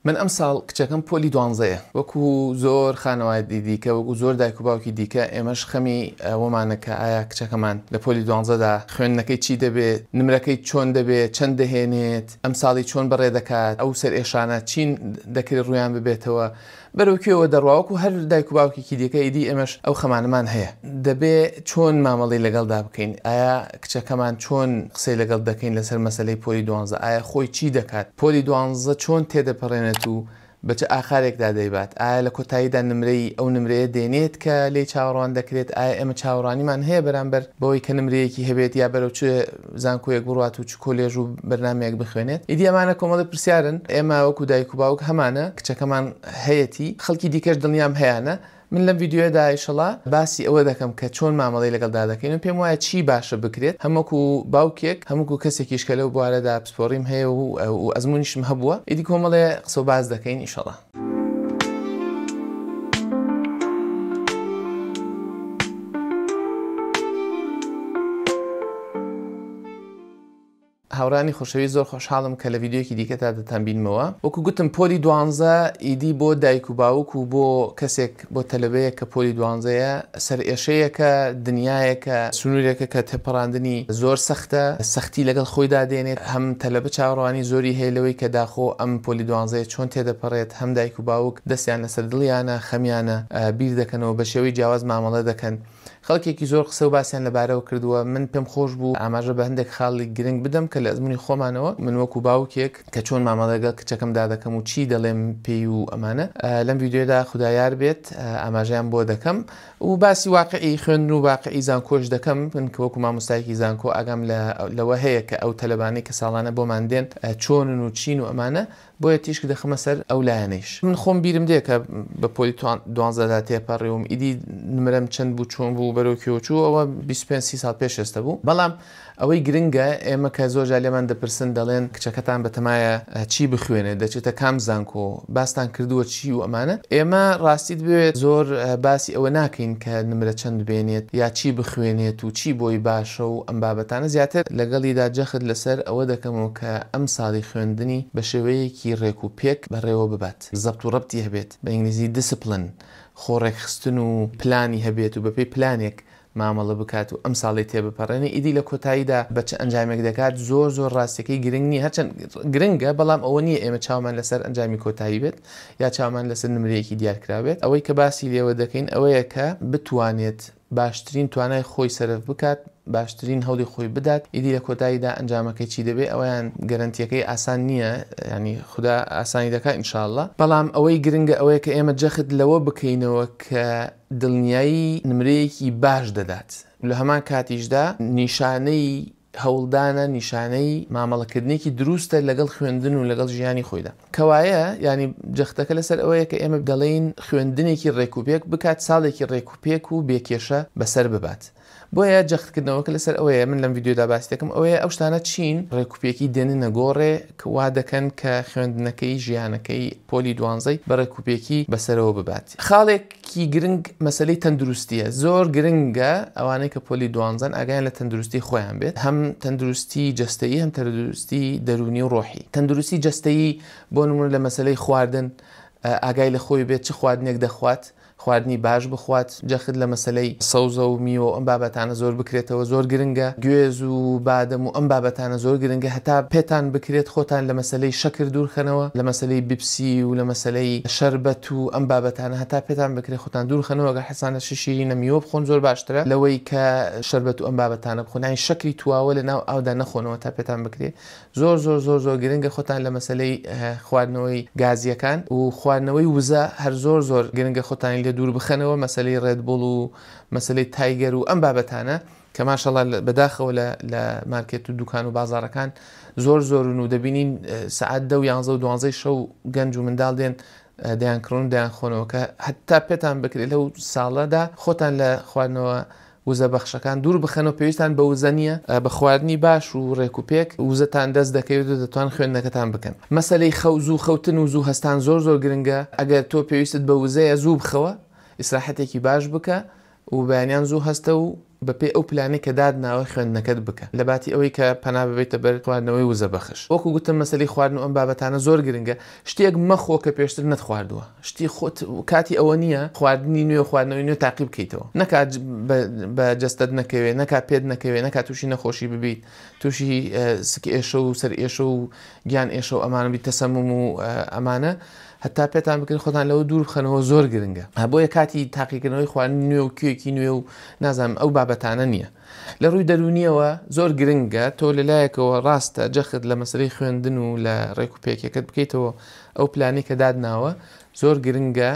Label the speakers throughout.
Speaker 1: من ئەمساڵ کچەکەم پۆلی دوانزەیە، وەکو زۆر خانەوادی دیکە، وەکو زۆر دایک و باوکی دیکە، ئێمەش خەمی ئەوەمانە کە ئایا کچەکەمان لە پۆلی دوانزەدا خوێندنەکەی چی دەبێت، نمرەکەی چۆن دەبێت، چەند دەهێنێت، ئەمساڵی چۆن بەڕێ دەکات، ئەو سەرئێشانە چین دەکرێت ڕوویان ببێتەوە، بەرەو کوێوە دەڕوا، وەکو هەر دایک و باوکێکی دیکە ئیدی ئێمەش ئەو خەمانەمان هەیە، دەبێت چۆن مامەڵەی لەگەڵدا بکەین، ئایا کچەکەمان چۆن قسەی لەگەڵ دەکەین لەسەر مەسەلەی پۆلی دوانزە؟ ئایا خۆی چی دەکات؟ پۆلی دوانزە چۆن تێدەپەڕێنێت و بە چ ئاقارێکدا دەیبات؟ ئایا لە کۆتاییدا نمرەی ئەو نمرەیە دێنێت کە لێی چاوەڕوان دەکرێت؟ ئایا ئێمە چاوەڕوانیمان هەیە بەرامبەر بەوەی کە نمرەیەکی هەبێت یا بەرەو چ زانکۆیەک بڕوات و چ کۆلێژ و بەرنامەیەک بخوێنێت؟ ئیدی ئەمانە کۆمەڵی پرسیارن ئێمە وەکو دایک و باوک هەمانە کچەکەمان هەیەتی، خەڵکی دیکەش دڵنیام هەیانە، من لەم ڤیدیۆیەدا ئیشەڵا باسی ئەوە دەکەم کە چۆن مامەڵەی لەگەڵدا دەکەین و پێم وایە چی باشە بکرێت هەم وەکو باوکێک هەم وەکو کەسێکیش کە لەو بوارەدا پسپۆڕیم هەیە و و ئەزموونیشم هەبووە ئیدی کۆمەڵێ قسە و باس دەکەین ئیشەڵا. هاورانی خۆشەویست زۆر خۆشحاڵم کە لە ڤیدیۆیەکی دیکەدا دەتانبینمەوە وەکو گوتم پۆلی دوانزە ئیدی بۆ دایک و باوک و بۆ کەسێک بۆ تەلەبەیەک کە پۆلی دوانزەیە سەرئێشەیەکە دنیایەکە سنورێکە کە تێپەڕاندنی زۆر سەختە سەختی لەگەڵ خۆیدا دێنێت هەم تەلەبە چاوەڕوانی زۆری هەیە لەوەی کە داخۆ ئەم پۆلی دوانزەیە چۆن تێدەپەڕێت هەم دایک و باوک دەستیان لەسەر دڵیانە خەمیانە بیردەکەنەوە بەشێوەی جیاواز مامەڵە دەکەن خەڵکێکی زۆر قسە و باسیان لەبارەوە کردووە، من پێم خۆش بوو ئاماژە بە هەندێک خاڵی گرنگ بدەم کە لە ئەزموونی خۆمانەوە، من وەکوو باوکێک کە چۆن مامەڵە لەگەڵ کچەکەمدا دەکەم و چی دەڵێم پێی و ئەمانە، لەم ڤیدیۆیەدا خودا یار بێت ئاماژەیان بۆ دەکەم و باسی واقیعی خوێندن و واقیعی زانکۆش دەکەم، من کە وەکوو مامۆستایەکی زانکۆ ئاگام لەوە هەیە کە ئەو تەلەبانەی کە ساڵانە بۆمان دێن چۆنن و چین و ئەمانە، بۆیە تیشک دەخەمە سەر ئەو لایەنەیش. من خۆم بیرم دێ کە بە پۆلی دوانزەدا تێپەڕیوم، ئیدی نمرەم چەند بوو، چۆن بوو، بەرەو کوێوە چوو، ئەوە بیست و پێنج سی ساڵ پێش ئێستە بوو. بەڵام ئەوەی گرنگە، ئێمە کە زۆر جار لێمان دەپرسن، دەڵێن کچەکەتان بەتەمایە چی بخوێنێت، دەچێتە کام زانکۆ، باستان کردووە چی و ئەمانە؟ ئێمە ڕاستیت بوێت زۆر باسی ئەوە ناکەین کە نمرە چەند بێنێت یا چی بخوێنێت و چی بۆی باشە و ئەم بابەتانە، زیاتر لەگەڵیدا جەخت لەسەر ئەوە دەکەمەوە، کە ئەم ساڵی خوێندنی بە شێوەیەکی ڕێک و پێک بەڕێوە ببات، زەبت و ڕەبتی هەبێت، بە ئینگلیزی، Discipline، خۆ ڕێکخستن و پلانی هەبێت و بەپێی پلانێک مامەڵە بکات و ئەم ساڵی تێبپەڕێنێ، ئیدی لە کۆتاییدا بە چ ئەنجامێک دەکات زۆر زۆر ڕاستیەکەی گرنگ نییە، هەرچەند گرنگە بەڵام ئەوە نییە ئێمە چاومان لەسەر ئەنجامی کۆتایی بێت یا چاومان لەسەر نمرەیەکی دیارکراو بێت، ئەوەی کە باسی لێوە دەکەین ئەوەیە کە بتوانێت باشترین توانای خۆی سەرف بکات، باشترین هەولی خۆی بدات، ئیدی لە کۆتاییدا ئەنجامەکەی چی دەبێت ئەوەیان گەرەنتیەکەی ئاسان نییە، یانی خودا ئاسانی دەکات ان شاء اللە، بەڵام ئەوەی گرنگە ئەوەیە کە ئێمە جەخت لەوە بکەینەوە کە دڵنیایی نمرەیەکی باش دەدات و لە هەمان کاتیشدا نیشانەی هەوڵدانە نیشانەی مامەڵەکردنێکی دروستە لەگەڵ خوێندن و لەگەڵ ژیانی خۆیدا. کەوایە یانی جەختەکە لەسەر ئەوەیە کە ئێمە دەڵێین خوێندنێکی ڕێکوپێک بکات ساڵێکی ڕێکوپێک و بێ کێشە بەسەر ببات. بۆیە جەختکردنەوەکە لەسەر ئەوەیە من لەم ڤیدیۆدا باسی دەکەم ئەوەیە ئەو شتانە چین ڕێکوپێکی دێننە گۆڕێ کە وا دەکەن کە خوێندنەکەی، ژیانەکەی پۆلی دوانزەی بە ڕێکوپێکی بەسەرەوە ببات. خاڵێک کی گرنگ مەسەلەی تەندروستیە زۆر گرنگە ئەوانەی کە پۆلی دوانزەن ئاگیان لە تەندروستی خۆیان بێت هەم تەندروستی جەستەیی هەم تەندروستی دەرونی و ڕۆحی تەندروستی جەستەیی بۆ نمونە لە مەسەلەی خواردن ئاگای لە خۆی بێت چ خواردنێک دەخوات خواردنی باش بخوات جەخت لە مەسەلەی سەوزە و میوە و ئەم بابەتانە زۆر بکرێتەوە زۆر گرنگە گوێز و بادەم و ئەم بابەتانە زۆر گرنگە هەتا پێتان بکرێت خۆتان لە مەسەلەی شەکر دوورخەنەوە لە مەسەلەی بیپسی و لە مەسەلەی شەربەت تو ئەم بابەتانە هەتا پێتان بکرێ خۆتان دوور خەنەوە گەر حەزتانە شی شیرینە میوە بخۆن زۆر باشترە لەوەی کە شەربەت و ئەم بابەتانە بخۆن یانی شەکری تواوە لە ناو ئاودا نەخۆنەوە تا پێتان بکرێ زۆر زۆر زۆر زۆر گرنگە خۆتان لە مەسەلەی خواردنەوەی گازییەکان و خواردنەوەی وزە هەر زۆر زۆر گرنگە خۆتانی لێ دوور بخەنەوە مەسەلەی ڕێد بوڵ و مەسەلەی تایگەر و ئەم بابەتانە کە ماشەڵا بەداخەوە لە لە مارکێت و دوکان و بازارەکان زۆر زۆرن و دەبینین سعات دە و یانزە و دوانزەی شەو گەنج و منداڵ دێن دەیان کڕن و دەیان خۆنەوە کە هەتا پێتان بکرێت لەو ساڵەدا خۆتان لە خواردنەوە وزە بەخشەکان دوور بخەنەوە پێویستان بە وزە نییە بە خواردنی باش و ڕێک و پێک وزەتان دەست دەکەوێت و دەتوان خوێندنەکەتان بکەن مەسەلەی خەو زوو خەوتن و زوو هەستان زۆر زۆر گرنگە ئەگەر تۆ پێویستت بە وزەیە زوو بخەوە ئیسراحەتێکی باش بکە و بەیانیان زوو هەستە و بەپێی ئەو پلانەی کە داتناوە خوێندنەکەت بکە لەباتی ئەوەی کە پەنا ببەیتە بەر خواردنەوەی وزە بەخش وەکو گوتم مەسەلەی خواردن و ئەم بابەتانە زۆر گرنگە شتێک مەخۆ کە پێشتر نەتخواردووە شتی خۆت کاتی ئەوە نییە خواردنی نوێ و خواردنەوەی نوێ تاقی بکەیتەوە نەکات بە جەستەت نەکەوێت نەکات پێت نەکەوێت نەکات تووشی نەخۆشی ببیت تووشی سک ئێشە و سەر ئێشە و گیان ئێشە و ئەمانە بیت تەسەموم و ئەمانە هەتا پێتان بکەن خۆتان لەوە دوور بخەنەوە زۆر گرنگە ها بۆیە کاتی تاقیکردنەوەی خواردنی نوێ و کوێکی نوێ و نازانم ئەو بابەتانە نییە لە ڕووی دەرونیەوە زۆر گرنگە تۆ لەلایەکەوە ڕاستە جەخت لە مەسلەی خوێندن و لە ڕێک و پێکەکەت بکەیتەوە ئەو پلانی کە دادناوە زۆر گرنگە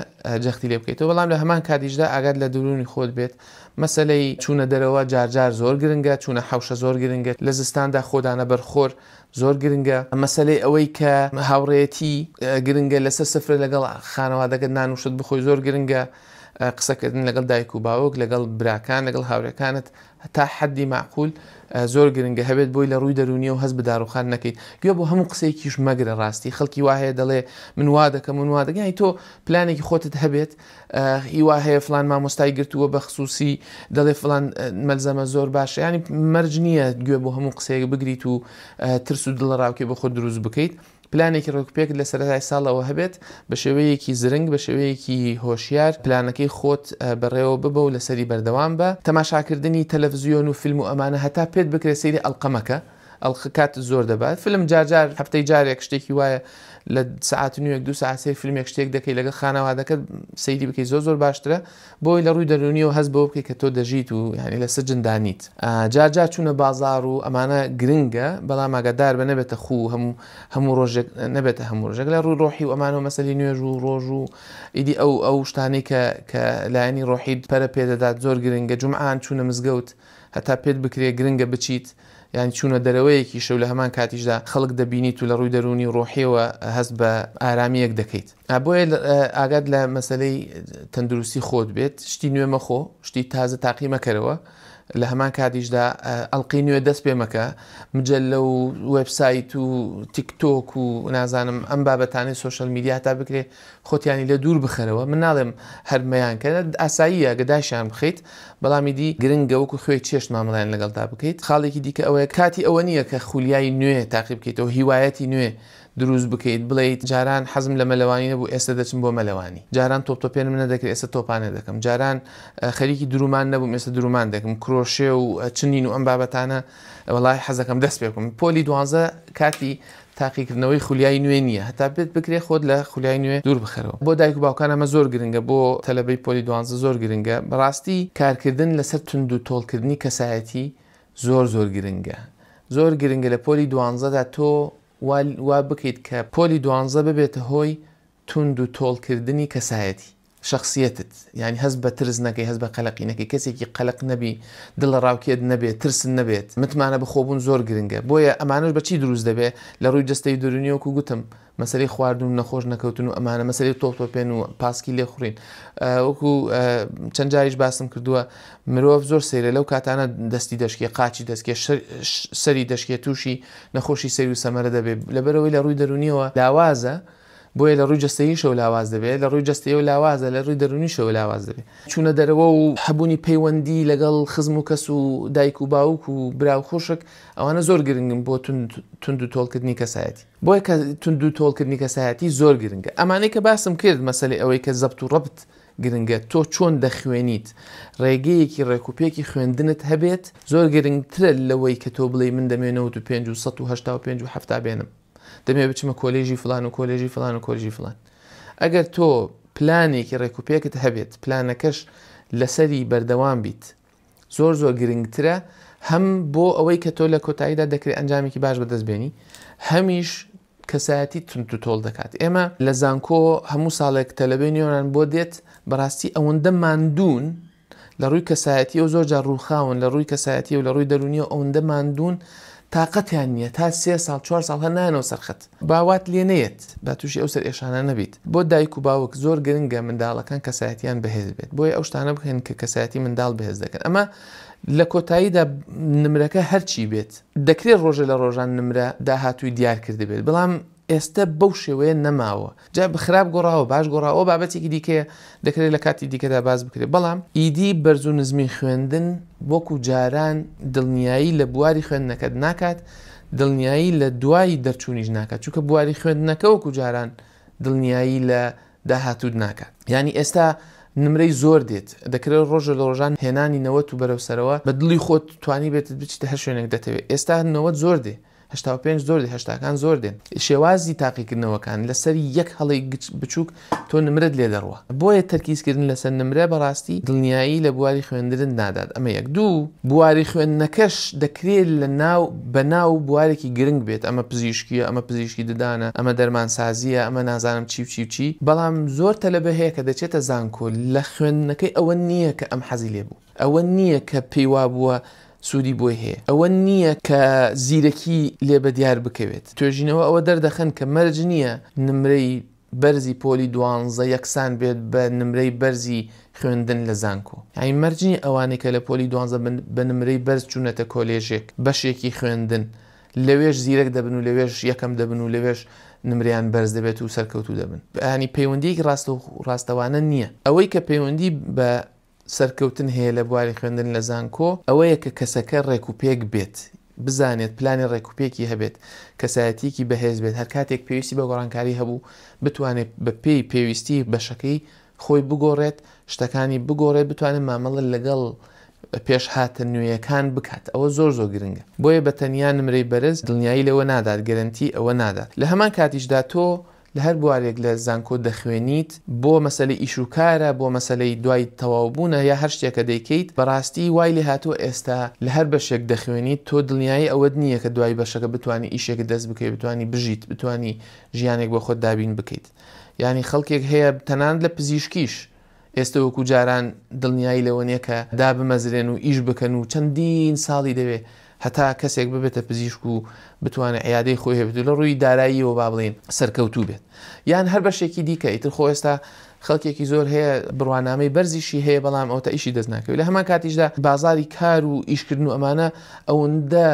Speaker 1: جەختی لێ بکەیتەوە بەڵام لە هەمان کاتیشدا ئاگات لە دروونی خۆت بێت مەسلەی چوونە دەرەوە جارجار زۆر گرنگە چوونە حوشە زۆر گرنگە لە زستاندا خۆدانە بەرخۆر زۆر گرنگە مەسەلەی ئەوەی کە هاوڕێیەتی گرنگە لەسەر سفرە لەگەڵ خانەوادەکەت نان و شت بخۆی زۆر گرنگە قسەکردن لەگەڵ دایک و باوک لەگەڵ براکان لەگەڵ هاورێکانت تا حەدی معقول زۆر گرنگە هەبێت بۆی لە ڕووی دەرونی و هەز بداڕوخان نەکەیت گوێ بۆ هەموو قسەیەکیش مەگرە ڕاستی خەڵکی واهەیە دەڵێ من وا دەکەم من وا دەگەی تۆ پلانێکی خۆتت هەبێت ی وا هەیە فڵان مامۆستای گرتووە بە خسووسی دەڵێ فڵان مەلزەمە زۆر باشە ینی مەرج نییە گوێ بۆ هەموو قسەیەک بگریت و ترس و دڵەڕاوکێ بە خۆت دروست بکەیت پلانێکی ڕێکوپێکت لە سەرەتای ساڵەوە هەبێت بە شێوەیەکی زرنگ بە شێوەیەکی هۆشیار پلانەکەی خۆت بەڕێوە ببە و لەسەری بەردەوام بە تەماشاکردنی تەلەفزیۆن و فیلم و ئەمانە هەتا پێت بکرێت سەیری ئەڵقە مەکە ئەڵقە کاتت زۆر دەبات فلم جار جار هەفتەی جارێک شتێکی وایە لە سعات نوێک دو سعات سەیر فلمێک شتێک دەکەی لەگە خانەوادەکەت سەیری بکەی زۆر زۆر باشترە بۆی لە ڕووی دەرونیەوە هەز بۆ بکەی کە تۆ دەژیت و یعنی لە سجن دانیت جار جار چوونە بازار و ئەمانە گرنگە بەڵام ئاگادار بە نەبێتە خو هەموو هەموو ڕۆژێک نەبێتە هەموو ڕژێک لە ڕووی ڕۆحی و ئەمانەوە مەسەی نوێژ و ڕۆژ و ئیدی ئەو ئەو شتانەی کە کە لایەنی ڕۆحیت پەرە پێدەدات زۆر گرنگە جمعان چوونە مزگەوت هەتا پێت بکرێ گرنگە بچیت یان چوونە دەرەوەیەکیشە و لە هەمان کاتیشدا خەڵک دەبینیت و لە ڕووی دەروونی و ڕۆحییەوە هەست بە ئارامییەک دەکەیت. بۆیە ئاگات لە مەسەلەی تەندروستی خۆت بێت، شتی نوێ مەخۆ، شتی تازە تاقی مەکەرەوە، لە هەمان کاتیشدا ئەڵقەی نوێ دەست پێ مەکە، مجەللە و وێبسایت و تیک تۆک و نازانم ئەم بابەتانەی سۆشیال میدیا هەتا بکرێ خۆتیانی لێ دوور بخەرەوە، من ناڵێم هەر مەیانکەن، ئاساییە گە داشیان بخەیت، بەڵام ئیدی گرنگە وەکو خوێی چێشت مامەڵەیان لەگەڵدا بکەیت، خاڵێکی دیکە ئەوەیە کاتی ئەوە نییە کە خولیای نوێ تاقی بکەیتەوە، هیوایەتی نوێ دروست بکەیت، بڵێیت جاران حەزم لە مەلەوانی نەبوو ئێستە دەچم بۆ مەلەوانی، جاران تۆپتۆپێنم نەدەکرد ئێستە تۆپانە دەکەم، جاران خەریکی درومان نەبووم ئێستە درومان دەکم، کرۆشێ و چنین و ئەم بابەتانە وەڵاهی حەزەکەم دەست پێ بکەم، پۆلی دوانزە کاتی تاقیکردنەوەی خولیای نوێ نییە هەتا پێت بکرێت خۆت لە خولیای نوێ دوور بخەرەوە بۆ دایک و باوکان ئەمە زۆر گرنگە بۆ تەلەبەی پۆلی دوانزە زۆر گرنگە بەڕاستی کارکردن لەسەر توندو تۆڵکردنی کەسایەتی زۆر زۆر گرنگە زۆر گرنگە لە پۆلی دوانزەدا تۆ وا وا بکەیت کە پۆلی دوانزە ببێتە هۆی توند و تۆڵ کردنی کەسایەتی، شەخسیەتت، یانی هەست بە ترس نەکەی، هەست بە قەلەقی نەکەی، کەسێکی قەلەق نەبی، دڵەڕاوکێت نەبێت، ترست نەبێت، متمانە بە خۆبوون زۆر گرنگە، بۆیە ئەمانەش بە چی دروست دەبێ؟ لە ڕووی جەستەی و دەروونی وەکو گوتم مەسەلەی خواردن و نەخۆش نەکەوتن و ئەمانە، مەسەلەی تۆپتۆپێن و پاسکی لێخوڕین وەکو چەند جاریش باسم کردووە مرۆڤ زۆر سەیرە لەو کاتانە دەستی دەشکێ قاچی دەستکێ سەری دەشکێ تووشی نەخۆشی سەیر و سەمەرە دەبێ لەبەرەوەی لە ڕووی دەروونیەوە لاوازە، بۆیە لە ڕووی جەستەییشەوە لاواز دەبێت، لە ڕووی جەستەییەوە لاوازە، لە ڕووی دەروونیشەوە لاواز دەبێت. چوونە دەرەوە و هەبوونی پەیوەندی لەگەڵ خزم و کەس و دایک و باوک و برا و خوشک، ئەوانە زۆر گرنگن بۆ توندوتۆڵکردنی کەسایەتی. بۆیە کە توندوتۆڵکردنی کەسایەتی زۆر گرنگە. ئەمانەی کە باسم کرد، مەسەلەی ئەوەی کە زەبت و ڕەبت گرنگە، تۆ چۆن دەخوێنیت، ڕێگەیەکی ڕێکوپێکی خوێندنت هەبێت، زۆر گرنگترە لەوەی کە تۆ بڵێی من دەمێ نەوەد و پێنج و سەد و هەشتا و پێنج و حەفتا بێنم. دەمەوێت بچمە کۆلێژی فلان و کۆلێژی فلان و کۆلژی فلان ئەگەر تۆ پلانێکی ڕێکوپێکت هەبێت پلانەکەش لەسەری بەردەوام بیت زۆر زۆر گرنگترە هەم بۆ ئەوەی کە تۆ لە کۆتاییدا دەکرێت ئەنجامێکی باش بەدەست بێنی هەمیش کەسایەتی تونت و تۆڵ دەکات ئێمە لە زانکۆ هەموو ساڵێک تەلەبێ نیۆران بۆ دێت بەڕاستی ئەوەندە ماندوون لە ڕووی کەسایەتییەوە زۆر جار ڕووخاون، لە ڕووی کەسایەتیی و لە ڕووی دەروونییەوە ئەوندە ماندوون، تاقەتیان نییە، تا سێ ساڵ، چوار ساڵ هەر نایەنەوە سەر خەت. با وات لێ نەیەت، با تووشی ئەو سەرئێشانانە بیت. بۆ دایک و باوک زۆر گرنگە منداڵەکان کەسایەتییان بەهێز بێت، بۆیە ئەو شتانە بکەن کە کەسایەتی منداڵ بەهێز دەکەن. ئەمە لە کۆتاییدا نمرەکە هەرچی بێت، دەکرێت ڕۆژێ لە ڕۆژان نمرە داهاتووی دیار کردبێت، بەڵام ئێستە بەو شێوەیە نەماوە، جا خراپ گۆڕاوە باش گۆڕاوە ئەوە بابەتێکی دیکەیە دەکرێت لە کاتی دیکەدا باس بکرێت، بەڵام ئیدی بەرز و نزمی خوێندن وەکو جاران دڵنیایی لە بواری خوێندنەکەت ناکات، دڵنیایی لە دوای دەرچوونیش ناکات، چونکە بواری خوێندنەکە وەکو جاران دڵنیایی لە داهاتووت ناکات، یانی ئێستا نمرەی زۆر دێت دەکرێت ڕۆژە لە ڕۆژان هێنانی نەوەت و بەرەو سەرەوە بە دڵی خۆت توانیبێتت بچیتە هەر شوێنێک دەتەوێت، ئێستا نەوەت زۆر دێ، هەشتا و پێنج زۆر دێ هەشتاکان زۆر دێن شێوازی تاقیکردنەوەکان لەسەر یەک هەڵەی گچ بچووک تۆ نمرەت لێ دەڕوا بۆیە تەرکیزکردن لەسەر نمرە بەڕاستی دڵنیایی لە بواری خوێندنت نادات ئەمە یەک دوو بواری خوێندنەکەش دەکرێت لە ناو بە ناو بوارێکی گرنگ بێت ئەمە پزیشکیە ئەمە پزیشکی ددانە ئەمە دەرمانسازیە ئەمە نازانم چی و چی و چی بەڵام زۆر تەلەبە هەیە کە دەچێتە زانکۆ لە خوێندنەکەی ئەوە نییە کە ئەم حەزی لێ بوو. ئەوە نییە کە پێی وابووە سوودی بۆی هەیە، ئەوە نییە کە زیرەکی لێ بەدیار بکەوێت. توێژینەوە ئەوە دەردەخەن کە مەرج نییە نمرەی بەرزی پۆلی دوانزە یەکسان بێت بە نمرەی بەرزی خوێندن لە زانکۆ. یانی مەرج نییە ئەوانەی کە لە پۆلی دوانزە بە نمرەی بەرز چوونەتە کۆلێژێک، بەشێکی خوێندن، لەوێش زیرەک دەبن و لەوێش یەکەم دەبن و لەوێش نمرەیان بەرز دەبێت و سەرکەوتوو دەبن. یانی پەیوەندییەکی ڕاستەوخۆ ڕاستەوانە نییە. ئەوەی کە پەیوەندی بە. سەرکەوتن هەیە لە بواری خوێندن لە زانکۆ ئەوەیە کە کەسەکە ڕێک و پێک بێت، بزانێت پلانی ڕێک و پێکی هەبێت، کەسایەتییەکی بەهێز بێت، هەر کاتێک پێویستی بە گۆڕانکاری هەبوو بتوانێت بە پێی پێویستی بەشەکەی خۆی بگۆڕێت، شتەکانی بگۆڕێت، بتوانێت مامەڵە لەگەڵ پێشهاتە نوێیەکان بکات، ئەوە زۆر زۆر گرنگە، بۆیە بە تەنیا نمرەی بەرز دڵنیایی لەوە نادات، گەرەنتی ئەوە نادات، لە هەمان کاتیشدا تۆ لە هەر بوارێک لە زانکۆ دەخوێنیت، بۆ مەسەلەی ئیش و کارە، بۆ مەسەلەی دوای تەواوبوونە یا هەر شتێکە دەیکەیت، بەڕاستی وای لێ هاتووە ئێستا لە هەر بەشێک دەخوێنیت، تۆ دڵنیایی ئەوەت نییە کە دوای بەشەکە بتوانی ئیشێکت دەست بکەوێت، بتوانی بژیت، بتوانی ژیانێک بۆ خۆت دابین بکەیت. یانی خەڵکێک هەیە تەنانەت لە پزیشکیش، ئێستە وەکو جاران دڵنیایی لەوە نیە کە دابمەزرێن و ئیش بکەن و چەندین ساڵی دەوێ هەتا کەسێک ببێتە پزیشک و بتوانێ عیادەی خۆی هەبێت و لە ڕووی داراییەوە با بڵێین سەرکەوتوو بێت یان هەر بەشێکی دیکە ئیتر خۆ ئێستا خەڵکێکی زۆر هەیە بڕوانامەی بەرزیشی هەیە بەڵام ئەوتە ئیشی دەست ناکەوێت لە هەمان کاتیشدا بازاری کار و ئیشکردن و ئەمانە ئەوەندە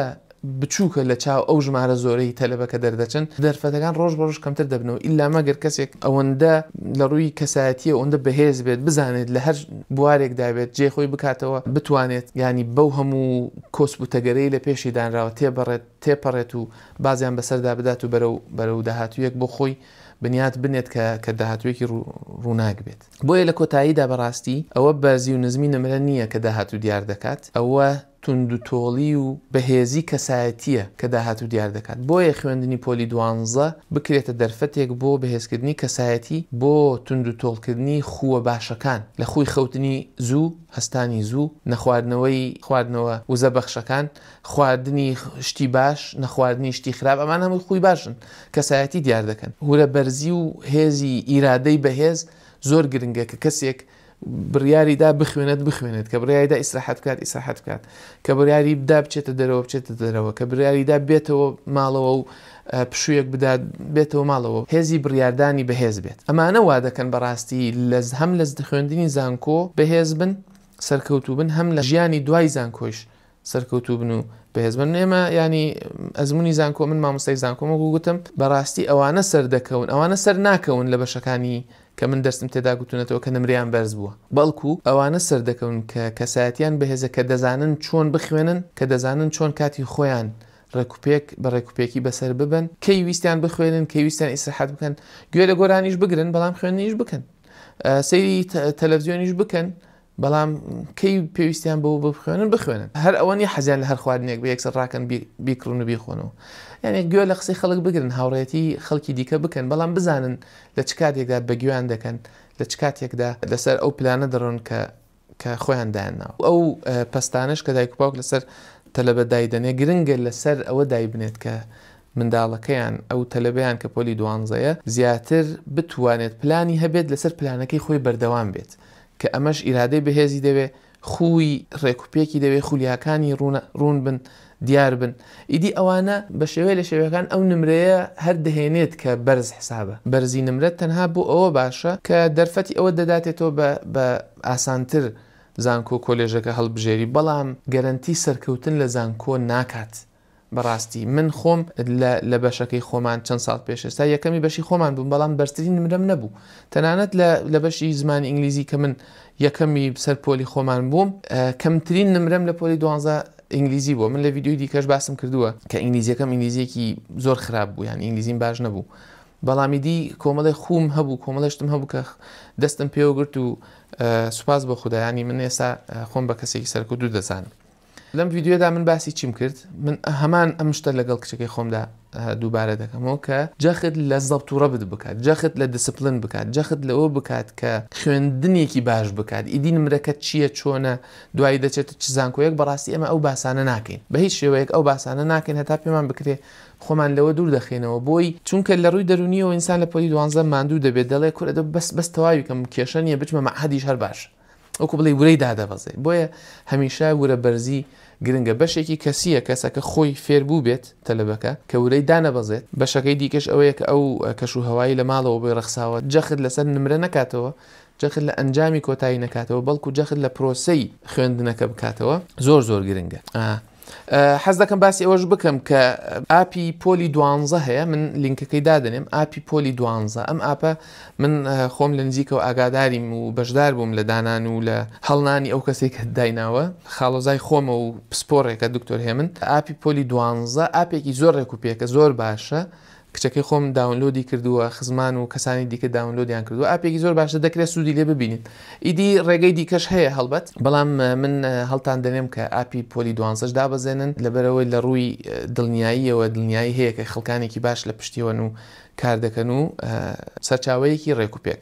Speaker 1: بچووکە لە چاو ئەو ژمارە زۆرەی تەلەبە کە دەردەچن، دەرفەتەکان ڕۆژ بە ڕۆژ کەمتر دەبنەوە، ئیلا مەگەر کەسێک ئەوەندە لە ڕووی کەسایەتییەوە ئەوەندە بەهێز بێت، بزانێت لە هەر بوارێکدا بێت جێ خۆی بکاتەوە، بتوانێت یانی بەو هەموو کۆسپ و تەگەرەی لە پێشی دانراوە تێبەڕێت، تێپەڕێت و بازیان بەسەردا بدات و بەرەو بەرەو داهاتوویەک بۆ خۆی بنیات بنێت کە کە داهاتوویەکی ڕوو ڕووناک بێت. بۆیە لە کۆتاییدا بەڕاستی ئەوە بەرزی و نزمی نمرە نییە کە داهاتوو دیار دەکات، ئەوە توندوتۆڵی و بەهێزی کەسایەتییە کە داهاتوو دیار دەکات، بۆیە خوێندنی پۆلی دوانزە بکرێتە دەرفەتێک بۆ بەهێزکردنی کەسایەتی، بۆ توندوتۆڵکردنی خووە باشەکان، لە خووی خەوتنی زوو، هەستانی زوو، نەخواردنەوەی خواردنەوە وزە بەخشەکان، خواردنی شتی باش، نەخواردنی شتی خراپ، ئەمانە هەمووی خووی باشن کەسایەتی دیار دەکەن. هورە بەرزی و هێزی ئیرادەی بەهێز زۆر گرنگە کە کەسێک بڕیاریدا بخوێنێت بخوێنێت، کە بڕیاریدا ئیسراحەت بکات ئیسراحەت بکات، کە بڕیاریدا بچێتە دەرەوە بچێتە دەرەوە، کە بڕیاریدا بێتەوە ماڵەوە و پشوویەک بدات بێتەوە ماڵەوە، هێزی بڕیاردانی بەهێز بێت. ئەمانە وا دەکەن بەڕاستی لە هەم لە خوێندنی زانکۆ بەهێز بن، سەرکەوتوو بن، هەم لە ژیانی دوای زانکۆیش سەرکەوتوو بن و بەهێز بن ئێمە ینی ئەزمموی زانکۆ من مامۆستای زانکۆم وەکو گوتم بەڕاستی ئەوانە سەر دەکەون ئەوانە سەر ناکەون لە بەشەکانی کە من دەستم تێدا گوتونەتەوە کە نمریان بەرز بووە بەڵکو ئەوانە سەر دەکەون کە کەسایەتیان بەهێزە کە دەزانن چۆن بخوێنن کە دەزانن چۆن کاتی خۆیان ڕێکوپێک بە ڕێکوپێکی بەسەر ببن کەی ویستیان بخوێنن کەی ویستیان ئیسرحەت بکەن گوێ لە گۆرانیش بگرن بەڵام خوێنیش بکەن سەیری تەلەڤزیۆنیش بکەن بەڵام کەی پێویستیان بەوە بخوێنن بخوێنن هەر ئەوە نیە حەزیان لە هەر خواردنێک بە یەکسەر ڕاکەن بیکڕن و بیخۆنەوە یعنی گوێ لە قسەی خەڵک بگرن هاوڕێتی خەڵکی دیکە بکەن بەڵام بزانن لە چ کاتێکدا بەگوێیان دەکەن لە چ کاتێکدا لەسەر ئەو پلانە دەڕۆن کە کە خۆیان دایانناوە ئەو پستانش کە دایک و باوک لەسەر تەلەبە دایدەنێ گرنگە لەسەر ئەوە دایبنێت کە منداڵەکەیان ئەو تەلەبیان کە پۆلی دوانزەیە زیاتر بتوانێت پلانی هەبێت لەسەر پلانەکەی خۆی بەردەوام بێت کە ئەمەش ئیرادەی بەهێزی دەوێ، خووی ڕێک و پێکی دەوێ، خولیاکانی ڕوونە، ڕوون بن، دیار بن. ئیدی ئەوانە بە شێوەیە لە شێوەکان ئەو نمرەیە هەر دەهێنێت کە بەرز حسابە. بەرزی نمرە تەنها بۆ ئەوە باشە کە دەرفەتی ئەوەت دەداتێ تۆ بە بە ئاسانتر زانکۆ و کۆلێژەکە هەڵبژێری، بەڵام گەرەنتی سەرکەوتن لە زانکۆ ناکات. بەڕاستی من خۆم لە لە بەشەکەی خۆمان چەند ساڵ پێش ئێستا یەکەمی بەشی خۆمان بووم بەڵام بەرزترین نمرەم نەبوو تەنانەت لە لە بەشی زمانی ئینگلیزی کە من یەکەمی سەر پۆلی خۆمان بووم کەمترین نمرەم لە پۆلی دوانزە ئینگلیزی بووە من لە ڤیدیۆی دیکەش باسم کردووە کە ئینگلیزیەکەم ئینگلیزیەکی زۆر خراپ بوو یان ئینگلیزیم باش نەبوو بەڵامی دی کۆمەڵی خوم هەبوو کۆمەڵشتم هەبوو کە دەستم پێوەگرت و سوپاس بۆ خودایانی من ئێستا خۆم بە کەسێکی سەرکوت و دەزانم لەم ڤیدیۆدا من باسی چیم کرد من هەمان ئەم شتە لەگەڵ کچەکەی خۆمدا دووبارە دەکەمەوە کە جەخت لە زەبت و ڕەبت بکات جەخت لە دیسپلن بکات جەخت لەوە بکات کە خوێندنێکی باش بکات ئیدی نمرەکە چییە چۆنە دوایی دەچێت چ زانکۆیەک بەڕاستی ئێمە ئەو باسانە ناکەین بە هیچ شێوەیەک ئەو باسانە ناکەین هەتا پێمان بکرێ خۆمان لەوە دوور دەخینەوە بۆی چونکە لە ڕووی دەرونیەوە ئینسان لە پۆلی دوانزە ماندوو دەبێت دەڵێ کورە دە بەس بەس تەواویکەم کێشە نیە بچمە مەعهەدیش هەر باش وەکو بڵێی ورەی دادەبەزێ بۆیە هەمیشە ورە بەرزی گرنگە بەشێکی کەسیە کەسەکە خۆی فێر بووبێت تەلەبەکە کە ورەی دانەبەزێت بەشەکەی دیکەش ئەوەیە کە ئەو کەش و هەوای لە ماڵەوە بۆی ڕەخساوە جەخت لەسەر نمرە نەکاتەوە جەخت لە ئەنجامی کۆتایی نەکاتەوە بەڵکو جەخت لە پرۆسەی خوێندنەکە بکاتەوە زۆر زۆر گرنگە ئا. حەز دەکەم باسی ئەوەش بکەم کە ئاپی پۆلی دوانزە هەیە من لینکەکەی دادنێم ئاپی پۆلی دوانزە ئەم ئاپە من خۆم لە نزیکەوە ئاگاداریم و بەشدار بووم لە دانان و لە هەڵنانی ئەو کەسێک کە دایناوە خاڵۆزای خۆمە و پسپۆڕێکە دکتۆر هێمن ئاپی پۆلی دوانزە ئاپێکی زۆر ڕێک و پێکە زۆر باشە کچەکەی خۆم داونلۆدی کردووە خزمان و کەسانی دیکە داونلۆدیان کردووە ئاپێکی زۆر باشە دەکرێت سوودی لێ ببینیت ئیدی ڕێگەی دیکەش هەیە هەڵبەت بەڵام من هەڵتان دەنێم کە ئاپی پۆلی دوانزەش دابەزێنن لەبەرەوەی لە ڕووی دڵنیاییەوە دڵنیایی هەیە کە خەڵکانێکی باش لە پشتیەوەن و کار دەکەن و سەرچاوەیەکی ڕێکوپێک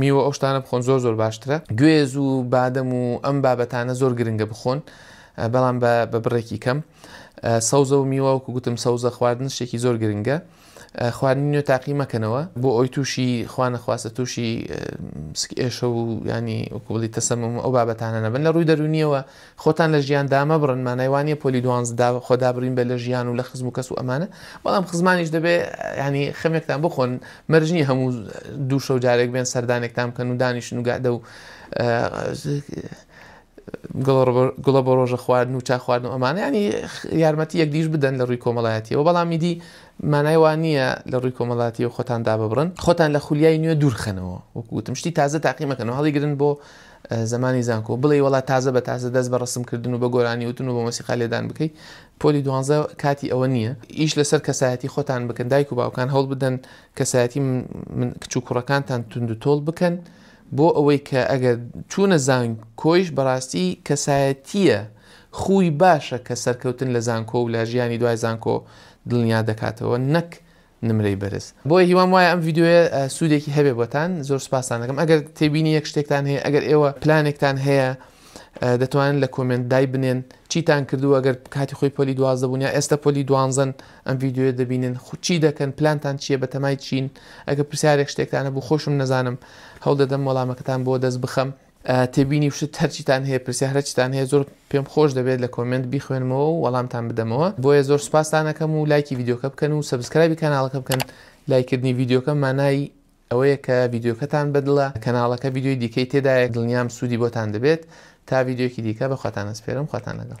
Speaker 1: میوە ئەو شتانە بخۆن زۆر زۆر باشترە گوێز و بادەم و ئەم بابەتانە زۆر گرنگە بخۆن بەڵام بە بە بڕێکی کەم سەوزە و میوەوەکو گوتم سەوزە خواردن شتێکی زۆر گرنگە خواردنی نوێ تاقی مەکەنەوە بۆ ئەوی تووشی خوانەخواستە تووشی سکئێشە و ینی وکوڵی تەسەمم ئەو بابەتانە نەبن لە ڕووی دەرونیەوە خۆتان لە ژیان دامەبڕن مانای وانیە پۆلی دوانزدە خۆدابرین بە لە ژیان و لە خزم و کەس و ئەمانە بەڵام خزمانیش دەبێ یانی خەمێکتان بخۆن مەرج نیە هەموو دوو شەو جارێک بێن سەردانێکتان بکەن و دانیشن و گەعدە و گوڵە بە ڕۆژە خواردن و چا خواردن و ئەمانە ینی یارمەتی یەکدیش بدەن لە ڕووی کۆمەڵایەتیەوە بەڵامی دی مانای وان نییە لە ڕووی کۆمەڵاتی و خۆتان داببرن خۆتان لە خولیای نوێ دوورخەنەوە وەکوتم شتی تازە تاقیمەکەن و هەڵیگرن بۆ زمانی زانکۆ، بڵێی وەڵا تازە بە تازە دەست بە ڕەسم کردن و بە گۆرانی وتن و بە مۆسیقا لێدان بکەی، پۆلی دوانزە کاتی ئەوە نییە، ئیش لەسەر کەسایەتی خۆتان بکەن، دایک و باوکان هەوڵ بدەن کەسایەتی من کچ و کوڕەکانتان توند و تۆڵ بکەن، بۆ ئەوەی کە ئەگەر چوونە زانکۆیش بەڕاستی کەسایەتییە خووی باشە کە سەرکەوتن لە زانکۆ و لە ژیانی دوای زانکۆ دڵنیا دەکاتەوە نەک نمرەی بەرز بۆیە هیوام وایە ئەم ڤیدیۆیە سوودێکی هەبێ بۆتان زۆر سوپاستان دەکەم ئەگەر تێبینی یەک شتێکتان هەیە ئەگەر ئێوە پلانێکتان هەیە دەتوانن لە کۆمنت دای بنێن چیتان کردو ئەگەر کاتی خۆی پۆلی دوازدە بوون یا ئێستا پۆلی دوانزن ئەم ڤیددیوە دەبینن خوچی دەکەن پلانتان چییە بە تەمای چین ئەگە پرسیارێک شتێکتانە بوو خۆشم نەزانم هەوڵ دەدەم وەڵامەکەتان بۆ دەست بخەم تێبینی و شت هەرچیتان هەیە پرسیار هەرچیتان هەیە زۆر پێم خۆش دەبێت لە کۆمێنت بیخوێنمەوە و وەڵامتان بدەمەوە بۆیە زۆر سوپاستان ئەکەم و لایکی ڤیدیۆکە بکەن و سەبسکرایبی کەناڵەکە بکەن لایکردنی ڤیدیۆکە مانای ئەوەیە کە ڤیدیۆکەتان بەدڵە کەناڵەکە ڤیدیۆی دیکەی تێدایە دڵنیام سوودی بۆتان دەبێت تا ڤیدیۆکی دیکە بە خواتان ئەسپێرم خواتان لەگەڵ